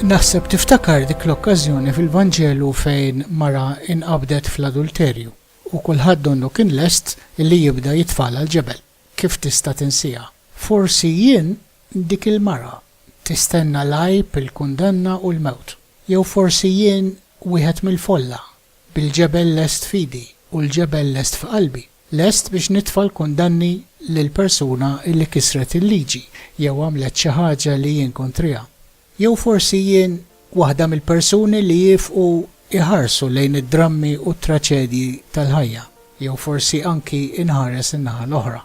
Naħseb tiftakar dik l-okkażjoni fil-Vanġelu fejn mara inqabdet fl-adulterju u kulħadd donnu kien lest li jibda jitfagħalha l-ġebel. Kif tista' tinsiha? Forsi jien dik il-mara tistenna l-għajb, il-kundanna u l-mewt. Jew forsi jien wieħed mill-folla bil-ġebel lest f'idi u l-ġebel lest f'qalbi, lest biex nitfa' l-kundanni lil persuna li kisret il-liġi jew għamlet xi ħaġa li jien kontriha. Jew forsi jien waħda mill-persuni li jiefqu jħarsu lejn id-drammi u t-traċedji tal-ħajja, jew forsi anki nħares in-naħa l-oħra.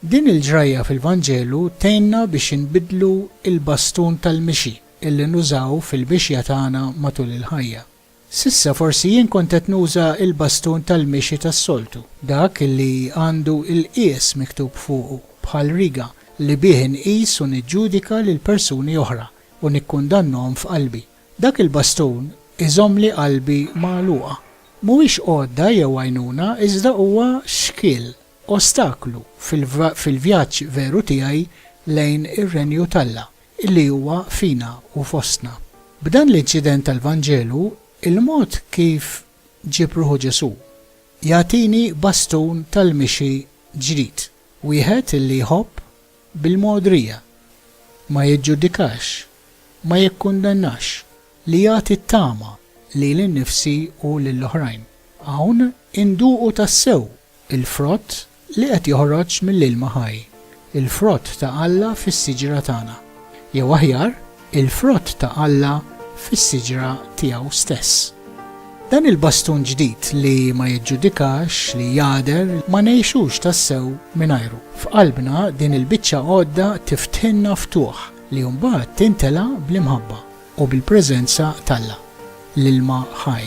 Din il-ġrajja fil-Vanġelu tgħinna biex inbiddlu l-bastun tal-mixi li nużaw fil-mixja tagħna matul il-ħajja. S'issa forsi jien kont qed nuża l-bastun tal-mixi tas-soltu, dak li għandu l-qies miktub fuqu, bħal riga, li bih inqis u niġġudika lil persuni oħra u nikkundannhom f'qalbi. Dak il-bastun iżommli qalbi magħluqa. Mhuwiex għodda jew għajnuna iżda huwa xkiel. Ostaklu fil-vjaġġ veru tiegħi lejn ir-Renju t'Alla, li huwa fina u fostna. B'dan l-inċident tal-Vanġelu, il-mod kif ġieb ruħu Ġesù, jagħtini bastun tal-mixi ġdid, wieħed li jħobb bil-mogħdrija, ma jiġġudikax, ma jikkundannax, li jagħti t-tama lili nnifsi u lill-oħrajn. Hawn induqu tassew il-frott li qed joħroġ mill-ilma ħaj, il-frott ta' Alla fis-siġra tagħna, jew aħjar, il-frott ta' Alla fis-siġra tiegħu stess. Dan il-bastun ġdid li ma jiġġudikax, li jagħder, ma ngħixux tassew mingħajru. F'qalbna din il-biċċa għodda tiftħilna ftuħ li mbagħad tintela' bl-imħabba u bil-preżenza t'Alla, l-ilma ħaj.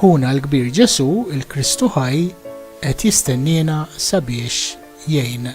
Ħuna l-Kbir Ġesù, il-Kristu ħaj, qed jistenniena sabiex jgħin.